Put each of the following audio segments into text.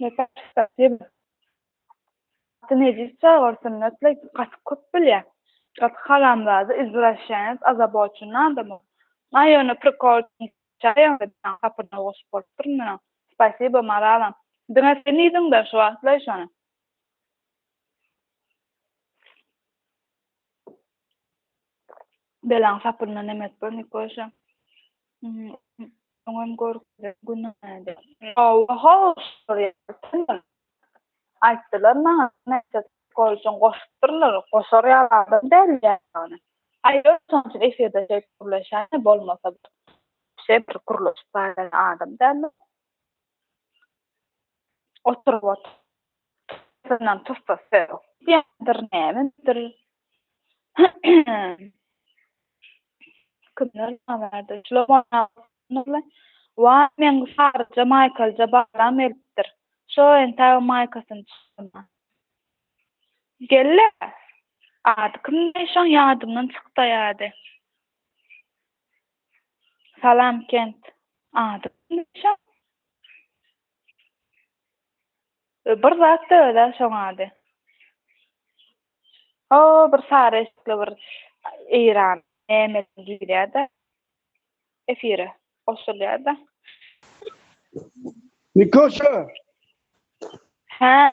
Gaty nejis çag ol Sünnetli gaty köp bilýä. Gaty haramzada izwraşýanec azaboçun adam ol. Aý ony prikol üçin çaýaňda kapyryna goşup bolupdyr indi onuň. Spasibo Maralam. Diňe seniň yzyňdan şu wagtlaý şony. Belaň sapyndan nemes bor Nikoşa. Oňam gorkuzar günäde. Oho, sorýarsyňlar. Aýtdylar maňa, näçe gol üçin goşupdyrlar, goşar ýaly adam däl ýagyny. Aýdar, şonuň üçin efirde şeýdip gürleşýäne, bolmasa bir şeýdip gürleşip barýan adam däldir. oturyp otyr. Tysyndan tussa sög. Diýendir nämedir. Kimler nämädir. Şular bolýar. Waý, meň saryja maýkalyja balam gelipdir. Şo entägem maýkasyny çykarman. Gel-le! Ady kimdi şoň ýadymdan çykdaýady. Salam kent ady bilmeşem. Bir zat da ödä şoň ady. O bir sary eşikli bir Eýran näme girýärdi. Efire goşulýardy. Nikoşa. Hä.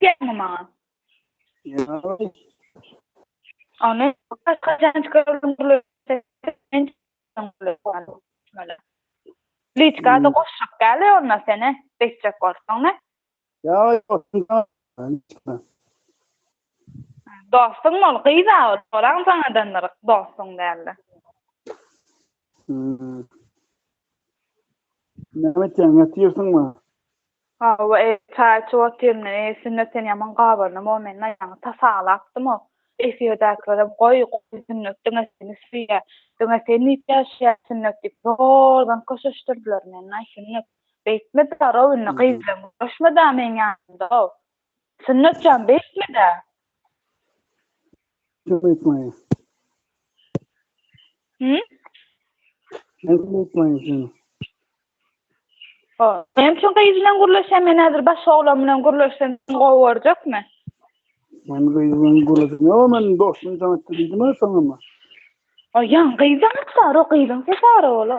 Gelme maňa. Ony kaçan çykardyň bular. Liçka da goşşak gäle onda sene beçjek bolsaň ne? Ya yok. Dostum ol gyz a ol. Soran sanadandyr dostum dälle. Näme etýäň, ýatyrsyňmy? Hawa, e, çaý içip otyryn. E, Sünnet, sen ýaman gabarnyp-ow, meniň aýagymy tasalapdym-ow. Efirdäkilerem, Goý, goý, Sünnet diňe seni söýýär. Diňe sen diýip ýaşaýar, Sünnet diýip, zordan köşeşdirdiler meni-aý, Sünnet. Beýtme-dä, Robin, gyz bilen görüşme-dä meniň ýanymda-ow. Sünnet jan beýtmedä. Kim beýtmeýär? Hü? Men beýtmeýär seni. O, men şu gyz bilen gürleşen, men häzir baş oglan bilen gürleşsem gowy görjekmi? Men gyz bilen gürleşen, o men dostum sana diýdim ha sana. O ýan gyz da o gyzyň sesi ara ola.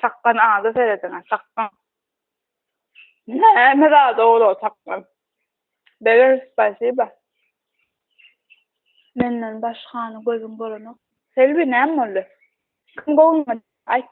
Çakgan ada serediň, çakgan. Näme zat ol o çakgan? Beger, spasiba. Menden başgany gözüň bolanok. Selbi, näme boldy? Kim gowunma, aýt.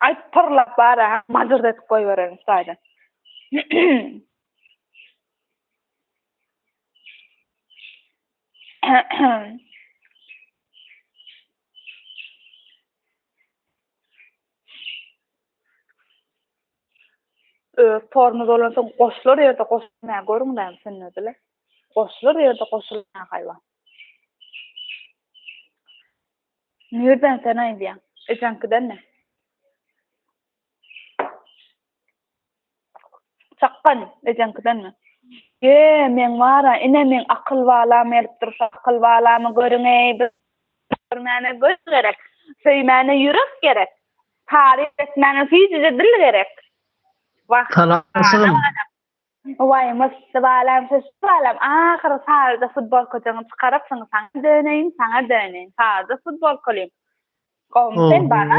Aýt, pyrlap bar, ha, majyrt edip goýbererin taýdan. öz formy bolan soň goşlar ýerde goşulmaýar görüň näme sünnedile goşlar ýerde goşulmaýar haýwan Nirden sen aýdýaň? Ejeňkiden mi? Çakgan, ejeňkidenmi? Ýe, meň bar-a, ine, meň akyl balam gelipdir, şu akyl balamy görüň-eý, biz görmäne göz gerek, söýmäne ýürek gerek, taryp etmäne süýjüje dil gerek. Wah, Salam. Waý, mysdy balam, şeşdi balam, ahyry saryja futbolkajygyňy çykarypsyň, saňa döneýin, saňa döneýin, saryja futbolkalym. Gowmy sen, bana?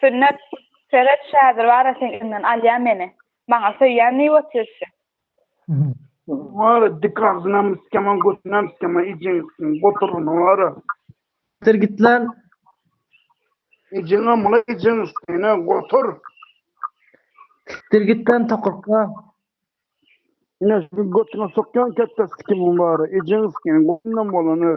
Sünnet, Seret, Şädir bar-a seň eliňden alýar meni. Maňa söýýän diýip otyr-şi. Wara, dik agzynam syçýaman, götünäm syçýaman, ejeň syçan goturgyny bar-a. Dur git lan! Ejeňem ula ejeň syçan-a, gotur! Dur git lan, tokurka! Ine, şu götüňe sokýan kette syçýaman bar-a, ejeň syçan, götündem bolany.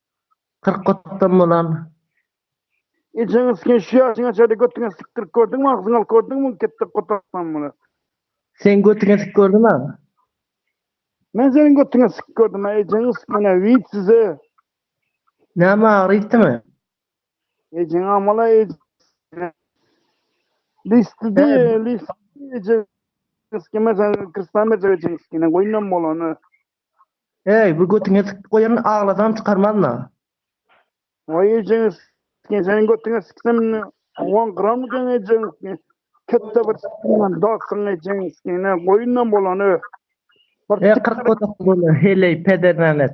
Kyrk otdan bolan. Ejeňi siken şu ýaşyňa çenli götüňe sikdirip gördüňmi agzyňy alyp gördüňmi ketde gotarsam muny. Sen götüňe sik gördüňmi agzy. Men seniň götüňe sik gördüm a ejeňi sikene wid size. Näme agyry ýitdimi. Ejeň amala ej. Listy di listy eje. Eskime sen kristan berjek ejeňi sikene goýnam bolany. Eý, bu götüňe sikip goýan aglasaň çykarmazna. Waý ejeňi s-ken seniň götüňe siksem on gram eken ejeňi s-ken ketde bir s-ken dogsaň ejeňi s-ken ne goýundan bolan ö. Eý kyrk gödek bolýa heleý pedernames.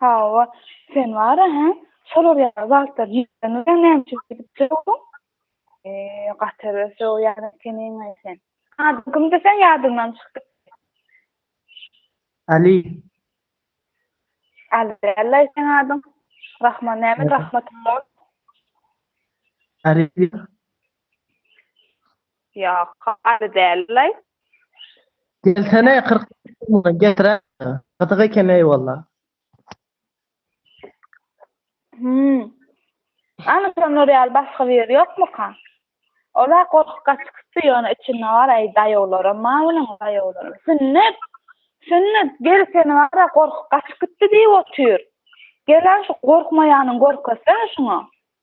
Hawa, sen bar-a, hä? Şolar ýaly zatlar diýseňiz-ä näme üçin gidip durduň? Eý, gaty bir sögýäň ekeniň-aý sen. Adyň kimdi seň ýadyňdan çykypdy. Aly. Aly däl-laý seň adyň. Rahman näme, Rahmatyň bol. Aly diýýär. Ýok, galy däldilaý. Gelsene kyrk muny getirä gyzyk ekeneý walla. Hümm. Ana şolar ýaly başga bir ýer ýokmyka? Ol-a gorkup gaçykypdy, ýöne içinde bar äý daýawlaram bar munuň daýawlaram. Sünnet! Sünnet! Gel seni bar-a gorkup gaçykypdy diýip otyr. Gel-ä şu gorkmaýanyny görkezsene şuňa.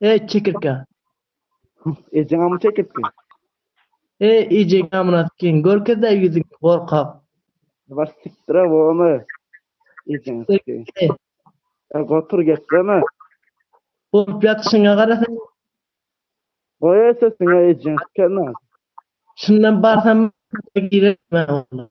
E çekirke. Ejeň amu çekirtki. E ejeň amynat giň. Görkezä ýüzüňi, gorkak. Baş sikdire bomy. Ejeň sikdi. E gotur gepleme. Bolup ýatyşyňa gara sen. Goý sesiňe ejeň sikenok. Şundan barsam girermen onda.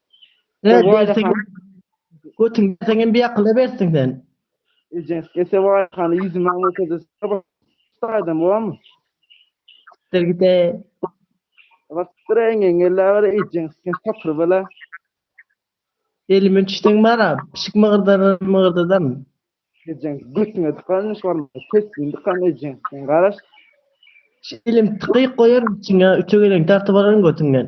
He bersin gö götüň berseň hem biakyla bersin sen. Ejeň Esewaýa hany ýüzümi aň görkezesi bar saýdam bormy? Sikdir gide. Batyr eňeň gelläber ejeň sen tapyr bela. Elime düşseň bara pişik mygyrdadam mygyrdadam. Ejeň götüňe dykaryn şu barmagyny pesliň dykaryn ejeň sen garaş. Şu elimi tykyk goýaryn içiňe üçe geleňi dartyp alaryn götüňden.